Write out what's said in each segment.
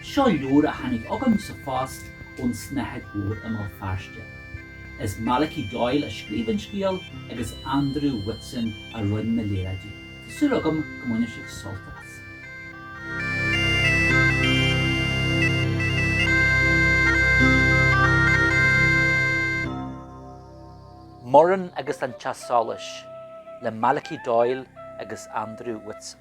Seo leabhar a tháinig chugam sa phost ón Snáthaid Mhór i mBéal Feirste. Is Malachy Doyle a scríobh an scéal agus Andrew Whitson a rinn na léaráidí. Tá súil agam go mbainfidh sibh sult as. Muireann agus an Teach Solais, le Malachy Doyle agus Andrew Whitson.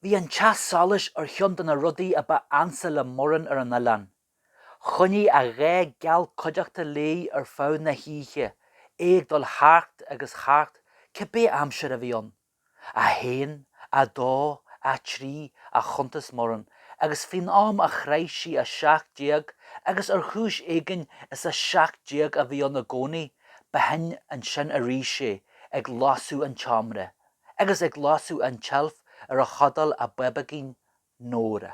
Bhí an teach solais ar cheann de na rudaí a ba ansa le Muireann ar an oileán. Choinnigh a gha geal cuideachta léi ar feadh na hoíche, é ag dul thart agus thart cibé aimsir a bhí ann. 1, 2, 3, a chuntas Muireann agus faoin am a shroich sí 17 agus ar chúis éigin is 17 a bhí ann i gcónaí, b'shin ansin arís é ag lasadh an tseomra agus ag lasadh an tseilf ar a chodail a bábóigín Nóra.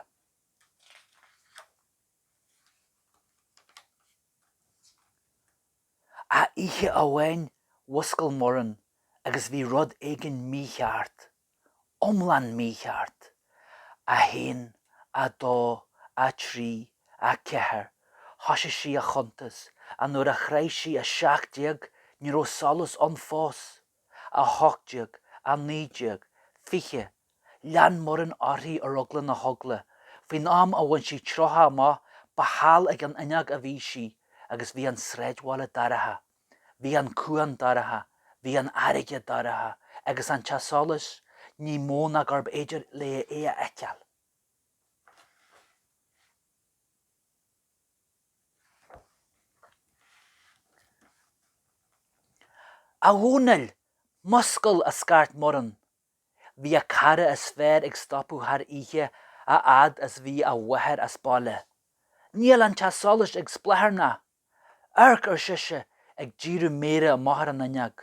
Ach oíche amháin mhuscail Muireann agus bhí rud éigin mícheart, iomlán mícheart. A haon, a dó, a trí, a ceathair, thoisigh sí a chuntas ach nuair a shroich sí a seacht déag ní raibh solas ann fós. 18, 19, 20, lean Muireann uirthi ar eagla na heagla, faoin am a bhain sí 30 amach ba thall ag an fhuinneog a bhí sí agus bhí an sráidbhaile dorcha, bhí an cuan dorcha, bhí an fharraige dorcha agus an teach solais ní mó ná gurbh fhéidir léi é a fheiceáil. A Dhomhnaill, muscail! a scairt Muireann. Bhí a cara is fearr ag stopadh thar oíche a fhad is bhí a mháthair as baile. Níl an teach solais ag spréacharnaigh. Amharc! ar sise, ag díriú méire amach ar an fhuinneog.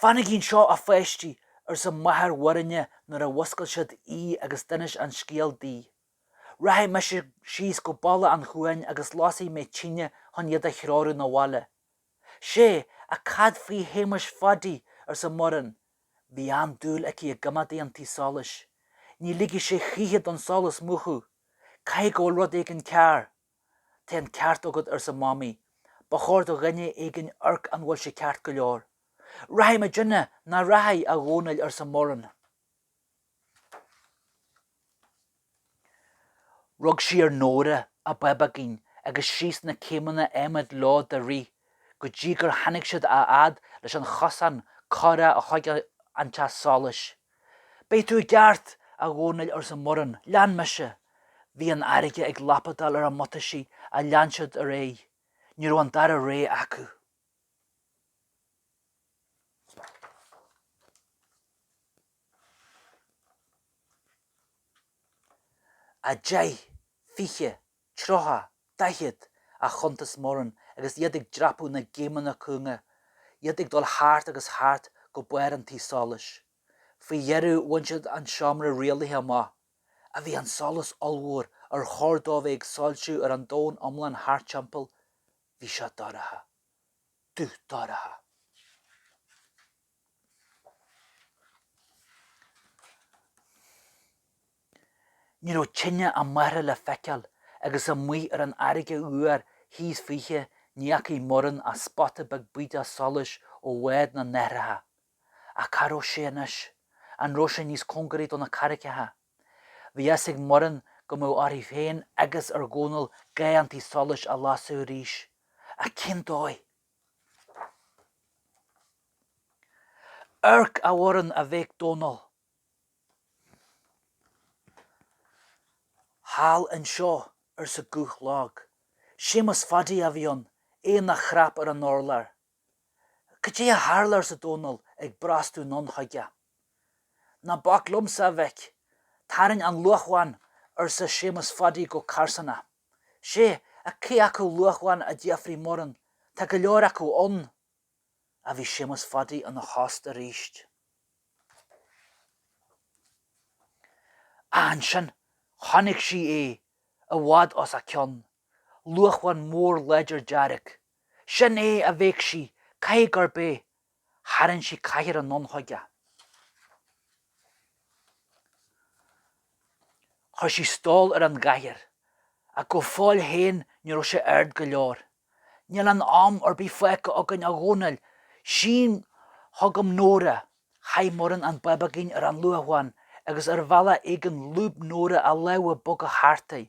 Fanaigí anseo, a pháistí, arsa máthair Mhuirinne nuair a mhuscail siad í agus d'inis an scéal di. Rachaidh mise síos go balla an chuain agus lasfaidh mé tine chun iad a threorú na bhaile. Sé, ach cad faoi Shéamas Pháidí? arsa Muireann. Bhí an-dúil aici i gcoimeádaí an tí solais. Ní ligfidh sé choíche don solas múchadh. Caithfidh go bhfuil rud éigin cearr. Tá an ceart agat, arsa Mamaí. Ba chóir do dhuine éigin amharc an bhfuil sé ceart go leor. Rachaidh muidinne nach rachaidh, a Dhónaill, arsa Muireann. Rug sí ar Nóra, an bábóigín, agus síos na céimeanna adhmaid leo de rith, go dtí gur tháinig siad a fhad leis an chosán carrach chuig an teach solais. Beidh tú i gceart, a Dhónaill, arsa Muireann. Lean mise. Bhí an fharraige ag lapadáil ar a mbuataisí ach lean siad ar aghaidh. Ní raibh an dara rogha acu. a deich, fiche, 30, 40 a chuntas Muireann agus iad ag dreapadh na gcéimeanna cúnga, iad ag dul thart agus thart go barr an tí solais. Faoi dheireadh bhain siad an seomra rialaithe amach, ach bhí an solas ollmhór ar chóir dó a bheith ag soilsiú ar an domhan iomlán thart timpeall, bhí seo dorcha. Dubh dorcha. Ní raibh tine a máthara le feiceáil agus amuigh ar an fharraige fhuar thíos fúithi ní fhacaigh Muireann ach spota beag bídeach solais ó bhád na n-aithreacha. Ach cá raibh sé anois? An raibh sé níos cóngaraí do na carraigeacha? Bhí a fhios ag Muireann go mbeadh uirthi féin agus ar Dhónall ga an tí solais a lasadh arís. Ach cén dóigh? Amharc a Mhuireann a bhéic Dónall. Thall anseo, arsa guth lag. Séamus Phaidí a bhí ann, é ina chnap ar an urlár. Cad é a tharla? arsa Dónall ag brostú anonn chuige. Ná bac liomsa, a mhic. Tarraing an luamhán, arsa Séamus Phaidí go carsánach. sé ach cé acu luamhán a d'fhiafraigh Muireann, tá go leor acu ann, ach bhí Séamus Phaidí ina thost arís. Ansin chonaic sí é i bhfad os a cionn, luamhán mór láidir dearg. Sin é, a bhéic sí, caithfidh gurb é, Tharraing sí cathaoir anonn chuige. Chuir sí stól ar an gcathaoir, ach go fóill féin ní raibh sé ard go leor. 'Níl aon am ar bith fágtha againn, a Dhónaill. Sín chugam Nóra. Chaith Muireann an bábóigín ar an luamhán agus ar bhealach éigin lúb Nóra a lámha boga thart air.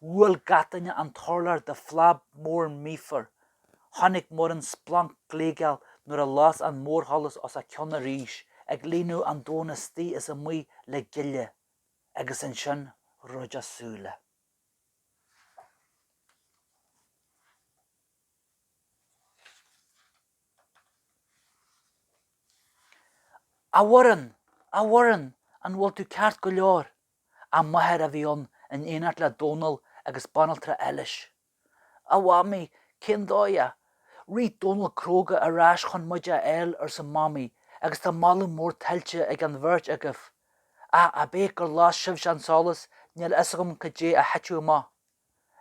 Bhuail gach duine an t-urlár de phlab mór míofar. Chonaic Muireann splanc gléigeal nuair a las an mórsholas os a cionn arís, ag líonadh an domhain istigh is amuigh le gile. Agus ansin dhruid a súile. A Mhuireann! A Mhuireann! An bhfuil tú ceart go leor? a máthair a bhí ann in éineacht le Dónall agus Banaltra Eilís. A Mhamaí, cén dóigh a. Rith Dónall cróga ar ais chun muid a fháil, arsa Mamaí, agus tá moladh mór tuillte ag an bheirt agaibh. Ach ab é gur las sibhse an solas, níl a fhios agam cad é a thiteadh amach.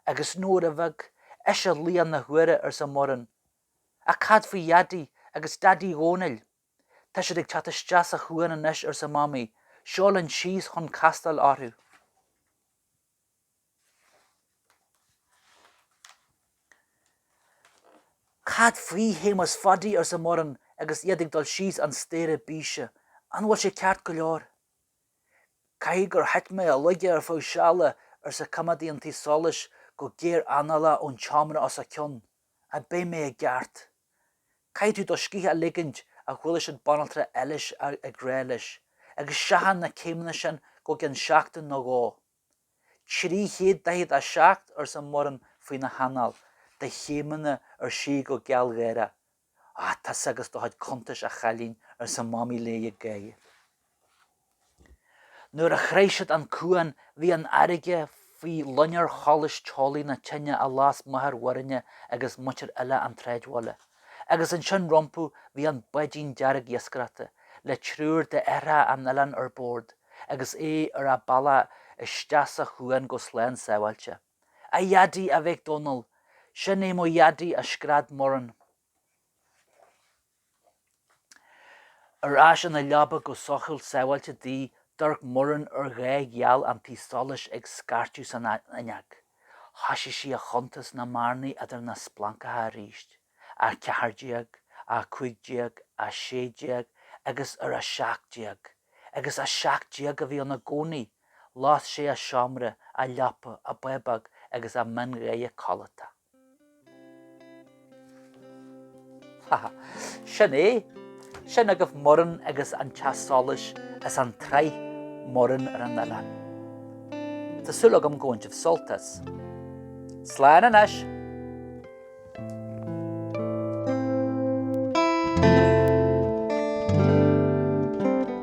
Agus Nóra Bheag, ise laoch na huaire, arsa Muireann. Ach cad faoi Dhaidí agus Daidí Dhónaill? Tá siad ag teacht isteach sa chuan anois, arsa Mamaí. Seo linn síos chun castáil orthu. Cad faoi Shéamas Phaidí? arsa Muireann agus iad ag dul síos an staighre bíse. An bhfuil sé ceart go leor? Caithfidh gur thit mé i laige ar feadh seala, arsa coimeádaí an tí solais go gearranálach ón tseomra os a cionn. ach beidh mé i gceart. Caithfidh tú do scíth a ligint a chuala siad Banaltra Eilís ag rá leis, agus seachain na céimeanna sin go gceann seachtain nó dhó. 347 arsa Muireann faoina hanáil de chéimeanna ar sí go gealgháireach. Tusa agus do chuid cuntais, a chailín, arsa Mamaí léi ag gáire. Nuair a shroich siad an cuan, bhí an fharraige faoi loinnir sholais teolaí na tine a las máthair Mhuirinne agus muintir uile an tsráidbhaile, agus ansin rompu bhí an báidín dearg iascaireachta, le triúr d'aithreacha an oileáin ar bord, agus é ar a bhealach isteach sa chuan go slán sábháilte. A Dheaidí! a bhéic Dónall. Sin é mo Dheaidí! a scread Muireann. Ar ais ina leaba go sócúil sábháilte di, d'amharc Muireann ar gha geal an tí solais ag scairteadh san fhuinneog. Thoisigh sí a chuntas na mbearnaí idir na splancacha arís, a 14, a 15, a 16 agus ar a 17. Agus a 17 a bhí ann i gcónaí! Las sé a seomra, a leaba, a bábóg agus a meangadh codlata. Ha ha. Sin é. Sin agaibh Muireann agus an Teach Solais as an tsraith Muireann ar an Oileán. Tá súil agam gur bhain sibh sult as. Slán anois!